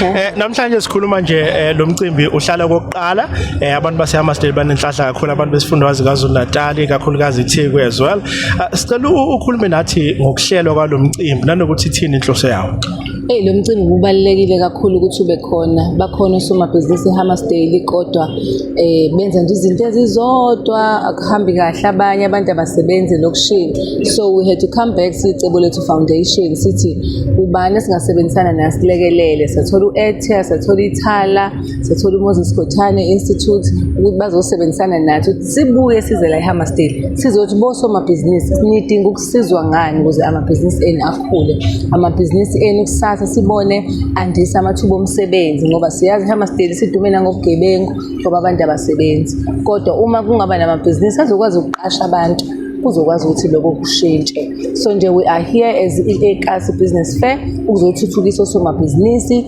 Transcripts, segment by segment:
Eh namhlanje sikhuluma nje eh, lo mcimbi uhlala kokuqala eh abantu baseHammarsdale banenhlahla kakhulu abantu besifundwazi kaZulu Natal kakhulukazi iTheku as well. Ah, sicela ukhulume nathi ngokuhlelwa kwalomcimbi nanokuthi ithini inhloso yawo. Hey lo mcimbi kubalekile kakhulu ukuthi ube khona. Bakhona osomabhizinisi eHammarsdale kodwa eh benza nje izinto ezizodwa akuhambi kahle abanye abantu abasebenzi lokushini so we had to come back sicebo lethu foundation sithi ubani esingasebenzisana naye silekelele sathola u-atia sathola ithala sathola umoses gothane institute ukuthi bazosebenzisana nathi sibuye size la ehammersdale sizothi bosomabhizinisi nidinga sizwa ngani ukuze amabhizinisi enu akhule amabhizinisi enu kusasa sibone andisa amathuba omsebenzi ngoba siyazi hamasdeli sidumela ngobugebengu ngoba abantu abasebenzi kodwa uma kungaba namabhizinisi azokwazi ukuqasha abantu kuzokwazi ukuthi lokho kushintshe so nje we are here as i-ekasi business fair ukuzothuthukisa osomabhizinisi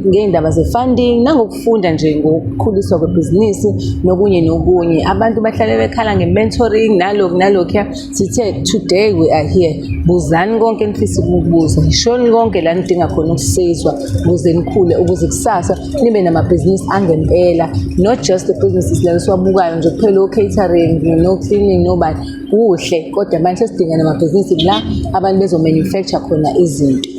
ngey'ndaba ze-funding nangokufunda nje ngokukhuliswa kwebhizinisi nokunye nokunye abantu bahlale bekhala nge-mentoring nalokhu nalokhuya Sithe today we are here. Buzani konke enifisa ukubuza. Shoni konke la nidinga khona ukusizwa ukuze nikhule ukuze kusasa nibe namabhizinisi angempela. Not just the businesses la siwabukayo nje kuphela o catering no cleaning no but kuhle kodwa manje sidinga namabhizinisi la abantu bezo manufacture khona izinto.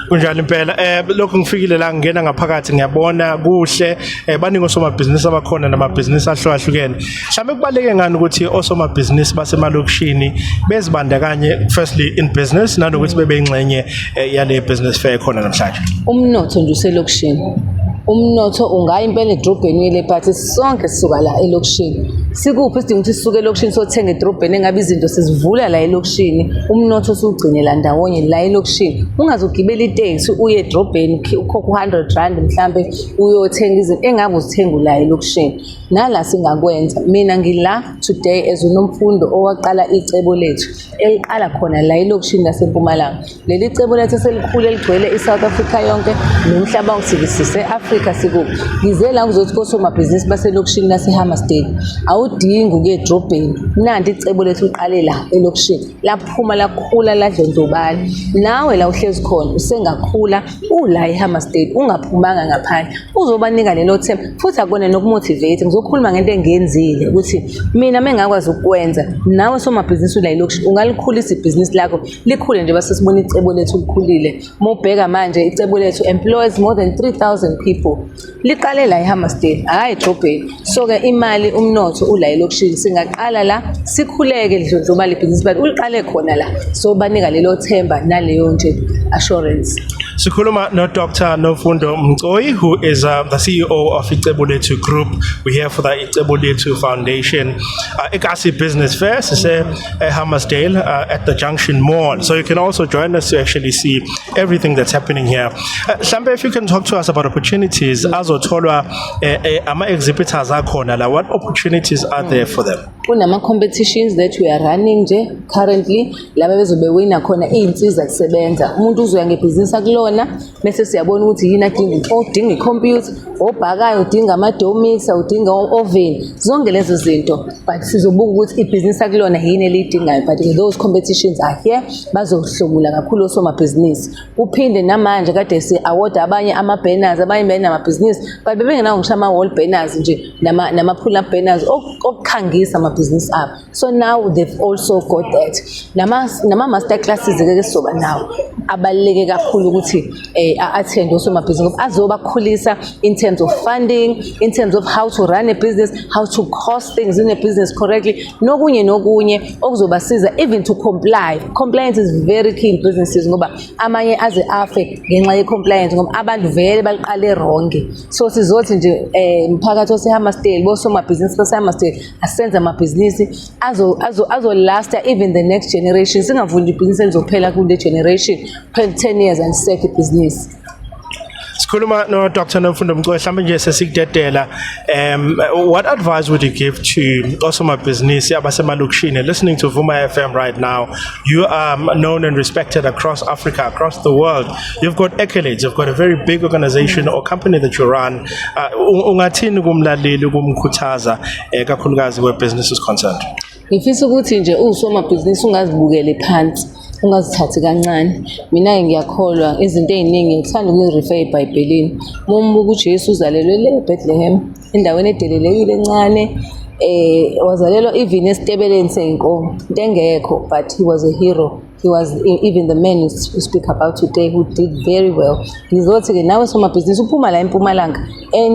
kunjalo impela eh lokho ngifikile la ngingena ngaphakathi ngiyabona kuhle eh baningi osomabhizinisi abakhona namabhizinisi ahlukahlukene Mhlawumbe kubaleke ngani ukuthi osomabhizinisi basemalokishini bezibandakanye firstly in business nanokuthi bebe ingxenye eh, yale business fair khona namhlanje. Umnotho nje uselokishini. Umnotho ungaya impela edrobheni uyele phathi sonke sisuka la elokishini. Sikuphi isidingo ukuthi sisuke elokishini sothenga edrobheni engabe izinto sizivula la elokishini. Umnotho usugcine la ndawonye la elokishini. Ungazogibela itaxi uye edrobheni ukhokha 100 rand mhlambe uyothenga izinto engabe uzithenga la elokishini. nala singakwenza mina ngila today as unomfundo owaqala icebo lethu eliqala khona la elokishini lasempumalanga leli cebo lethu eselikhulu eligcwele i-south africa yonke nomhlaba usikisise africa sikubi ngize la kuzothi kosomabhizinisi baselokishini lasehammersdale awudingi ukuye edrobheni nanti icebo lethu liqale la elokishini laphuma lakhula ladlondlobala nawe la uhlezi khona usengakhula ula ihama state ungaphumanga ngaphandle uzobanika lelo themba futhi akona nokumotivate ngizokhuluma ngento engenzile ukuthi mina mengakwazi ukwenza nawe somabhizinisi ula ilokushi ungalikhulisa ibhizinisi lakho likhule nje base sibona icebo lethu likhulile mobheka manje icebo lethu employs more than 3000 people liqale la ehammersdale hhayi edrobheni so-ke imali umnotho ula elokishini singaqala la sikhuleke lidlondloba libhizinisi but uliqale khona la so banika lelo themba naleyo nje assurance Sikhuluma no Dr Nofundo Mcoyi who is uh, the CEO of Icebulethu Group. We here for the Icebulethu Foundation. Uh, Ikasi Business Fair sise uh, Hammersdale uh, at the Junction Mall. So you can also join us to actually see everything that's happening here mhlambe uh, if you can talk to us about opportunities azotholwa eh, eh, ama exhibitors akhona la what opportunities are there for them kunama competitions that we are running nje currently laba bezobe wina khona izinsiza kusebenza umuntu uzoya ngebhizinisi akulona bese siyabona ukuthi yini adinga odinga icomputer obhakayo udinga amadomisa udinga oven zonke lezo zinto but sizobuka ukuthi ibhizinisi akulona yini eliyidingayo but ke those competitions are here bazohlomula kakhulu osomabhizinisi kuphinde namanje kade si-awoda abanye ama-banners abanye benamabhizinisi but bebengenawo ngisho ama-wall banners nje nama-pull up banners okukhangisa amabhizinisi abo so now they've also got that nama-master classes ke sizoba nawo abaluleke kakhulu ukuthi um a-attend osomabhizinisi ngoba azobakhulisa in terms of funding in terms of how to run a business how to cost things in a business correctly nokunye nokunye okuzobasiza even to comply compliance is very key in businesses ngoba amanye aze afe ngenxa ye-compliance ngoba abantu vele baliqale ronge so sizothi nje um mphakathi osehamastail bosomabhizinisi basehamastail asenze amabhizinisi azolasta azo, azo even the next generation singavuli ibhizinisi elizophela kule generation kuphela 10 years and sek ibhizinisi sikhuluma no Dr Nomfundo Mcowe mhlawumbe nje sesikudedela um what advice would you give to osomabhizinisi abasemalokishini listening to Vuma FM right now you are known and respected across Africa across the world you've got accolades you've got a very big organization or company that you run Ah, ungathini kumlaleli ukumkhuthaza eh, kakhulukazi where business is concerned? Ngifisa ukuthi nje uwusomabhizinisi ungazibukele phansi ungazithathi kancane mina-ke ngiyakholwa izinto ey'ningi ngithanda ukuyi-refer ebhayibhelini uma umbuka ujesu uzalelwe le ebethlehem endaweni edelelekile encane um wazalelwa even esitebeleni sey'nkomo into engekho but he was a hero he was e, even the man you speak about today who did very well ngizothi ke nawe somabhizinisi uphuma la empumalanga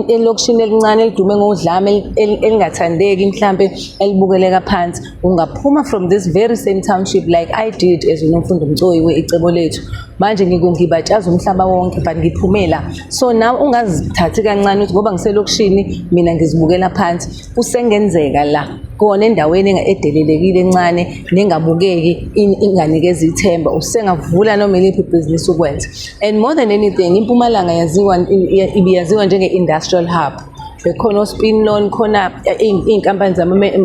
elokishini elincane elidume ngodlame elingathandeki mhlambe elibukeleka phansi ungaphuma from this very same township like i did as unomfundo mcoyi we-icebo lethu manje ngikungibatshaza umhlaba wonke but ngiphumela so nawe ungazithathi kancane ukuthi ngoba ngiselokishini mina ngizibukela phansi kusengenzeka la kona endaweni edelelekile encane nengabukeki inganikeza ithemba usengavula noma iliphi ibhizinisi ukwenza and more than anything impumalanga yaziwa ibiyaziwa njenge-industrial hub bekhona ospin loan khona eh, iy'nkampani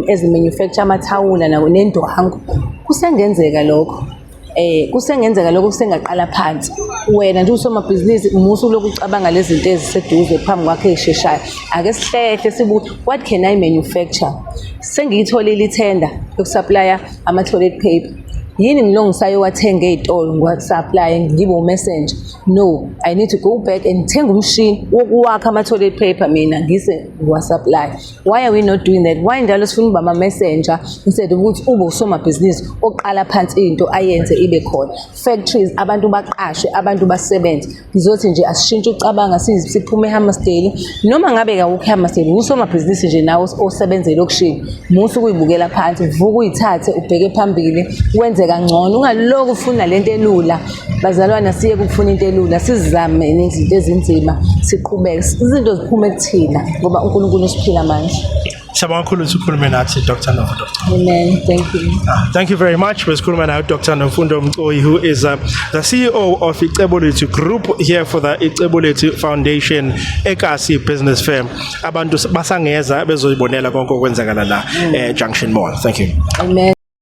ezimanufacture amathawula nendwangu kusengenzeka lokho eh kusengenzeka lokho kusengaqala phansi wena nje usomabhizinisi musu lokhu ucabanga lezi zinto eziseduze phambi kwakhe esheshayo ake sihlehle sibuthi what can i manufacture sengiyitholile ithenda yokusupplya ama-toilet paper yini ngilongisayo wathenga ey'tolo ngiwasupplye ngibe umessenger no i need to go back and thenga umshini wokuwakha ama-toilet paper mina ngise ngiwasupplye why are we not doing that why njalo sifuna uba ma-messenger instead of ukuthi ube usomabhizinisi oqala phansi into ayenze ibe khona factories abantu baqashe abantu basebenze ngizothi nje asishintshe ucabanga siphume ehammersdale noma ngabe kawukho ehammersdale ngusomabhizinisi nje nawe osebenza elokishini musa ukuyibukela phansi vuka uyithathe ubheke phambili wenze kangcono ungaloku ufuna le nto elula Bazalwane asiye kufuna into elula, sizame nezinto ezinzima, siqhubeke. Izinto ziphume kuthina ngoba uNkulunkulu usiphila amandla. Siyabonga kakhulu ukuthi ukhulume nathi Dr. Nofundo. Amen. Thank you. Ah, thank you very much. We're school man Dr. Nofundo Mcoyi, who is uh, the CEO of Icebuleti Group here for the Icebuleti Foundation, Ekasi Business Firm. Abantu basangeza bezoyibonela konke okwenzakala la eh, Junction Mall. Thank you. Amen.